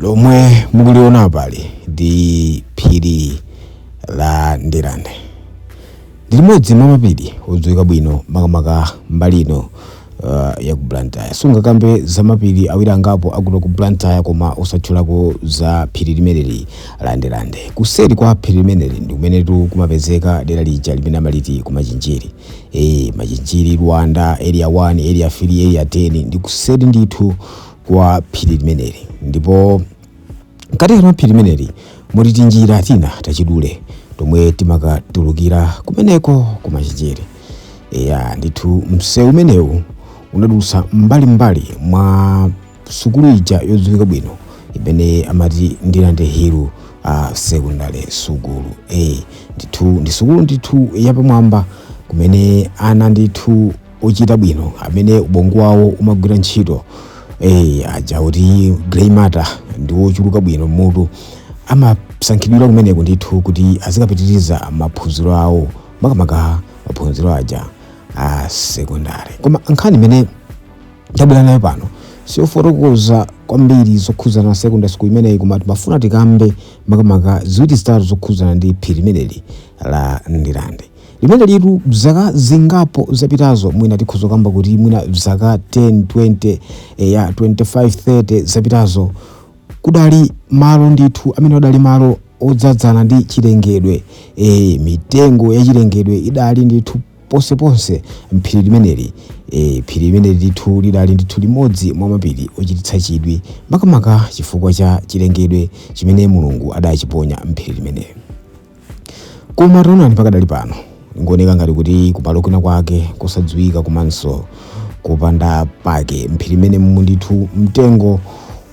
lomwe mukuliona apali ndi phiri la ndirande ndi limodzi mwa mapiri odziwika bwino makamaka mbali ino uh, ya ku blantyre sungakambe za mapiri awiri angapo akuno ku blantyre koma osatchulako za phiri limeneli la ndirande kuseri kwa phiri limeneli ndi kumenetu kumapezeka dera lija limene amaliti kumachinjiri Eee Machinjiri, Luanda, Area 1, Area 3, Area 10 ndi kuseri ndithu kwa phiri limeneli ndipo mkatikati mwa phiri limeneli muli tinjira tina tachidule tomwe timakatulukira kumeneko ku Machinjiri. Eya ndithu msewu umenewu unadutsa mbalimbali mwa sukulu ija yodziwika bwino imene amati Ndirande Hill uh, Secondary Sukulu eh, ndithu ndi sukulu ndithu yapamwamba kumene ana ndithu ochita bwino amene ubongo wawo umagwira ntchito eh, aja kuti grey matter ndi wochuluka bwino m'mutu amasankhidwira kumeneko ndithu kuti azikapitiriza maphunziro awo makamaka maphunziro aja a sekondari koma nkhani imene Tabwera nayo pano si yofotokoza kwambiri zokhuzana na secondary school imeneyi koma timafuna tikambe makamaka ziwiri zitatu zokhuzana ndi phiri limeneli la Ndirande. Limenelitu zaka zingapo zapitazo mwina tikhoza kukamba kuti mwina zaka 10, 20, eh, ya 25, 30 zapitazo kudali malo ndithu amene adali malo odzadzana ndi chilengedwe eh, mitengo ya chilengedwe idali ndithu ponseponse m'phiri limeneli. E, phiri limeneli ndithu lidali ndithu limodzi mwa mapiri ochititsa chidwi, makamaka chifukwa cha chilengedwe chimene Mulungu adachiponya m'phiri limeneli. Koma taonani pakadali pano, likuoneka ngati kuti kumalo kwina kwake kosadziwika komanso kopanda pake m'phiri limenemu ndithu mtengo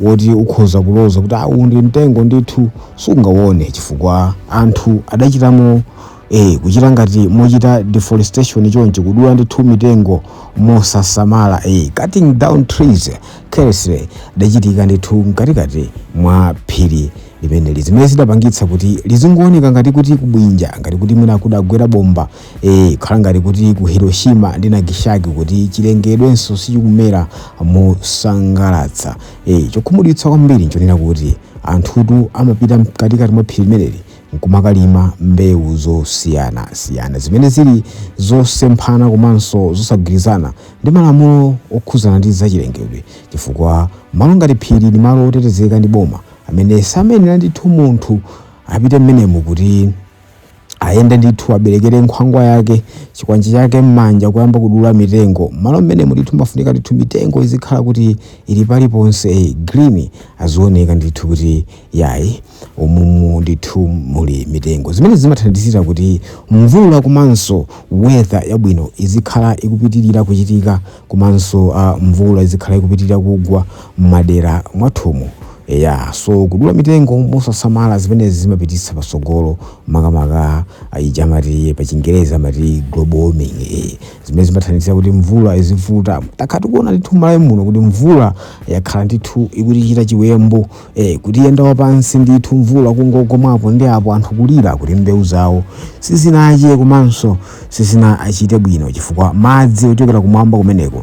woti ukhoza kuloza kuti uwu ndi mtengo ndithu sungawone chifukwa anthu adachitamo ee kuchita ngati mochita deforestation chonchi kudula ndithu mitengo mosasamala ee cutting down trees carelessly idachitika ndithu mkatikati mwa phiri limeneli zimene zidapangitsa kuti lizingooneka ngati kuti kubwinja ngati kuti mwina kudagwera bomba ee kukhala ngati kuti ku hiroshima ndi nagishaki kuti chilengedwenso sichikumera mosangalatsa ee chokhumudwitsa kwambiri nchonena kuti anthutu amapita mkatikati mwa phiri limeneli nkumakalima mbewu zosiyana siyana zimene zili zosemphana komanso zosagwirizana ndi malamulo okhuzana ndi zachilengedwe chifukwa malo ngati phiri ndi malo otetezeka ndi boma amene samayenera ndithu munthu apite mmenemu kuti ayende ndithu aberekere nkhwangwa yake chikwanje chake m'manja kuyamba kudula mitengo mmalo mmene mulithu mafunika ndithu mitengo izikhala kuti ili paliponse green azioneka ndithu kuti yayi umumu ndithu muli mitengo zimene zimathandizira kuti mvula komanso weather yabwino izikhala ikupitirira kuchitika komanso uh, mvula izikhala ikupitirira kugwa m'madera mwathumu ya so kudula mitengo mosasamala zimenezi zimapititsa patsogolo makamaka ija amati pachingereza amati global warming eh, zimene zimathandizira kuti mvula izivuta takhala tikuona ndithu malawi muno kuti mvula yakhala ndithu ikutichita chiwembu ee kutiyenda wapansi ndithu mvula kungogwa mwapo ndi apo anthu kulira kuti mbewu zawo sizinache komanso sizinachite bwino chifukwa madzi ochokera kumwamba kumeneko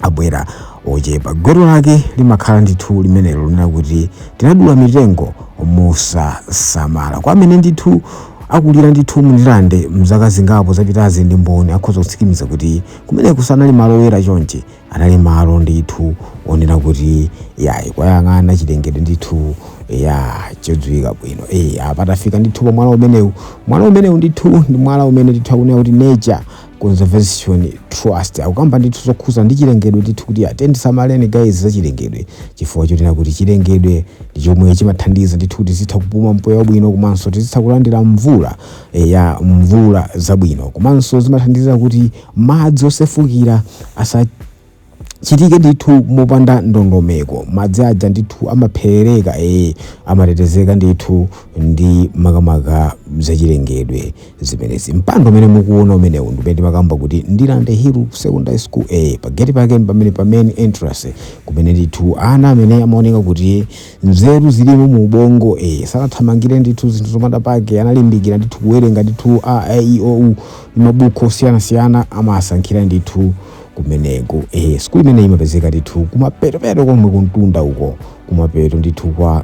abwera ochepa gwero lake limakhala ndithu limenelo lonena kuti tinadula mitengo mosasamala kwa amene ndithu akulira ndithu mu Ndirande mzaka zingapo zapitazi ndi mboni akhoza kutsimikiza kuti kumeneko sanali malo oyera chonchi anali malo ndithu onena kuti yayi ukayang'ana chilengedwe ndithu ya chodziwika bwino e, apa tafika ndithu pa mwala umenewu mwala umenewu ndithu ndi mwala umene ndithu akunena kuti nature conservation trust akukamba ndithu zokhuza ndi chilengedwe ndithu kuti ati ndisamaleni guys za chilengedwe chifukwa chotena kuti chilengedwe ndi chomwe chimathandiza ndithu kuti tizitha kupuma mpweya wabwino komanso tizitha kulandira mvula e, ya mvula zabwino komanso zimathandiza kuti Madzi osefukira asachitike ndithu mopanda ndondomeko. Madzi aja ndithu amaperereka ee amatetezeka ndithu ndi makamaka zachilengedwe zimenezi. Mpanda umene mukuona umenewu ndi umene timakamba kuti Ndirande Hill Secondary School ee pageti pake mpamene pa main entrance kumene ndithu ana amene amaoneka kuti nzeru zilimo mu ubongo ee sanathamangire ndithu zinthu zopanda pake analimbikira ndithu kuwerenga ndithu a e i o u mabuku osiyanasiyana amasankhidwira ndithu kumeneko eh, sukulu imeneyi imapezeka ndithu kumapeto peto komwe kumtunda uko kumapeto ndithu kwa